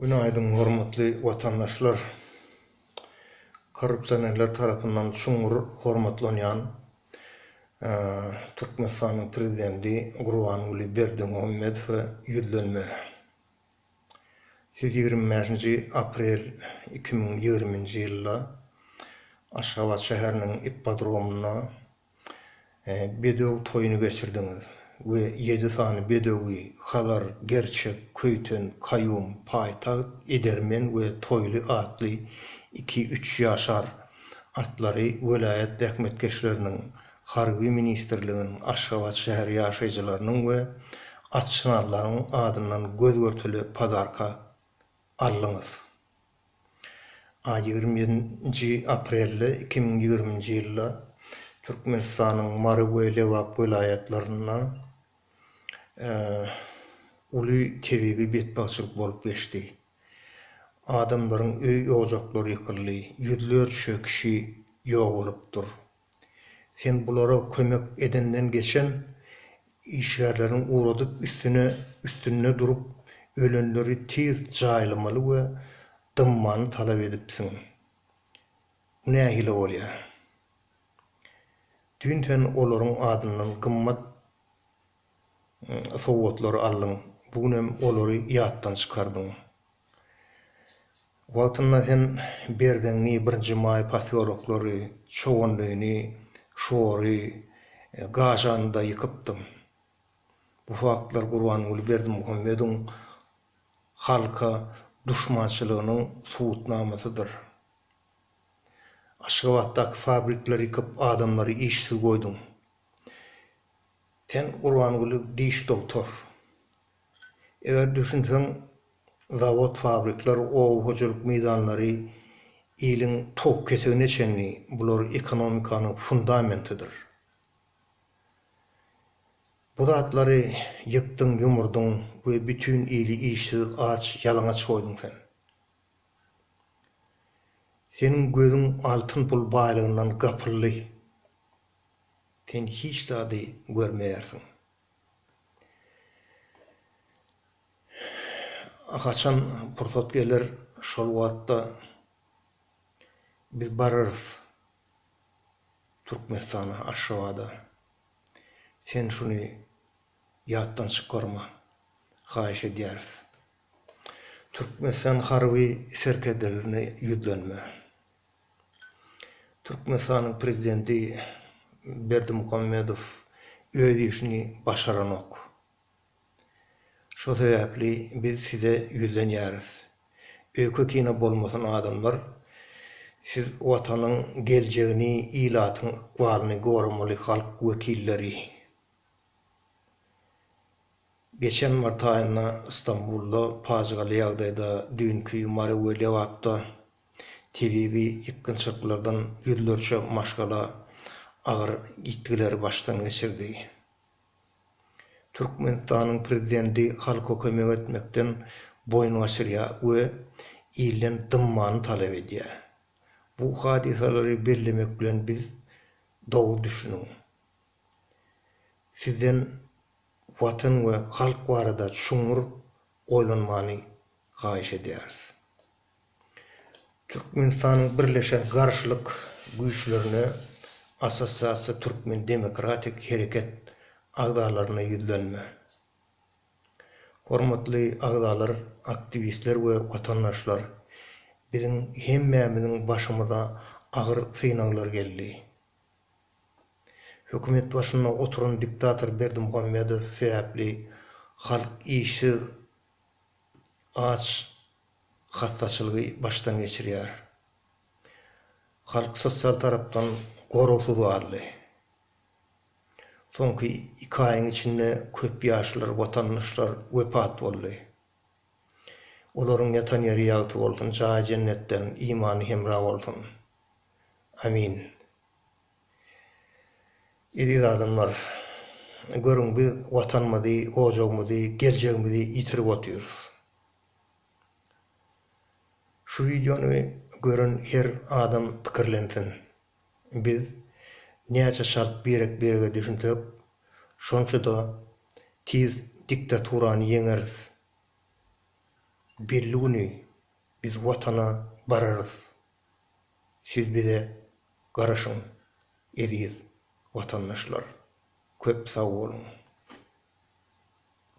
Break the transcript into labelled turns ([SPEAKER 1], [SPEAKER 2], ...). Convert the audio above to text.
[SPEAKER 1] Günaýdyň hormatly watandaşlar! Korrupsionerler tarapyndan çuňňur hormatlanýan Türkmenistanyň Prezidenti Gurbanguly Berdimuhamedowa ýüzlenme. Siz ýigrimi bäşinji aprel iki müň ýigrimi nji ýylda Aşgabat şäheriniň ippodromynda Bedew toýuny geçirdiňiz we ýedi sany bedewi, Hazar, Gerçek, Köýten, Kaýum, Paýtagt, Edermen we Toýly atly iki-üç ýaşar atlary welaýat zähmetkeşleriniň, Harby ministrligiň, Aşgabat şäheri ýaşaýjylarynyň we atşynazlaryň adyndan göz-görtele padarka aldyňyz. A ýigrimi ýedinji aprelde iki müň ýigriminji ýylda Türkmenistanyň Mary we Lebap welaýatlarynda uly tebigy betbagtçylyk bolup geçdi. Adamlaryň öý-ojaklary ýykyldy, ýüzlerçe kişi ýogalypdyr. Sen bulara kömek edenden geçen işgärleriň ugradyp üstüne üstünde durup ölenleri tiz jaýlamaly we dymmany talap edipsiň. Bu nähili bolýa? Düýn sen olaryň adyndan gymmat sowgatlary aldyň, bu gün hem olary ýatdan çykardyň. Wagtynda sen Berzeňňi, Birinji maý posýoloklary, Çoganlyny, Şory, Gažany-da ýykypdyň. Bu faktlar Gurbanguly Berdimuhamedowyň halka duşmançylygynyň subutnamasydyr. Aşgabatdaky fabrikleri ýykyp, adamlary işsiz goýduň. Sen Gurbanguly diş dogtor. Eger düşünseň zawod fabrikler oba hojalyk meýdanlary iliň towuk ketegine çenli bular ekonomikanyň fundamentidir. Bu zatlary ýykdyň ýumurdyň we bütin ili işsiz aç ýalaňaç goýduň sen. Seniň gözüň altyn pul baýlygyndan gapyldy. Sen hiç zady görmeýärsiň. Haçan pursat geler, şol wagtda biz bararys Türkmenistana, Aşgabada. Sen şuny ýatdan çykarma, haýyş edýäris. Türkmenistan harby serkerdelerine ýüzlenme. Türkmenistanyň prezidenti Berdimuhamedow öz işini başaranok. Şo sebäpli biz size ýüzlenýäris. Öýke-kine bolmasyn adamlar, siz watanyň geljegini, ilatyň ykbalyny goramaly halk wekilleri. Geçen mart aýynda Stambulda pajygaly ýagdaýda, düýnki Mary we Lebapda, tebigy ýykgynçylyklardan ýüzlerçe maşgala agyr ýitgileri başdan geçirdi. Türkmenistanyň Prezidenti halka kömek etmekden boýun gaçyrýar we ilden dymmany talap edýär. Bu hadysalary bellemek bilen biz, dogry düşüniň, sizden Watan we halk barada çuňňur oýlanmany haýyş edýäris. Türkmenistanyň Birleşen garşylyk güýçlerine Assosiasiýa Türkmen demokratik hereket agzalaryna ýüzlenme. Hormatly agzalar, aktiwistler we watandaşlar! Biziň hemmämiziň başymyza agyr synaglar geldi. Hökümet başynda oturan diktator Berdimuhamedow sebäpli halk işsiz, aç, hassaçylygy başdan geçirýär. Halk sosial tarapdan goragsyz galdy. Soňky iki aýyň içinde köp ýaşlar, watandaşlar wepat boldy. Olaryň ýatan ýeri ýagty bolsun, jaýy jennetden, imany hemra bolsun. Amin. Eziz adamlar, görüň biz Watanymyzy, ojagymyzy, geljegimizi ýitirip otyrys. Şu wideony gören her adam pikirlensin. Biz näçe çalt birek-birege düşünsek, şonça-da tiz diktaturany ýeňeris. Belli güni biz Watana bararys. Siz bize garaşyň, eziz watandaşlar. Köp sag boluň!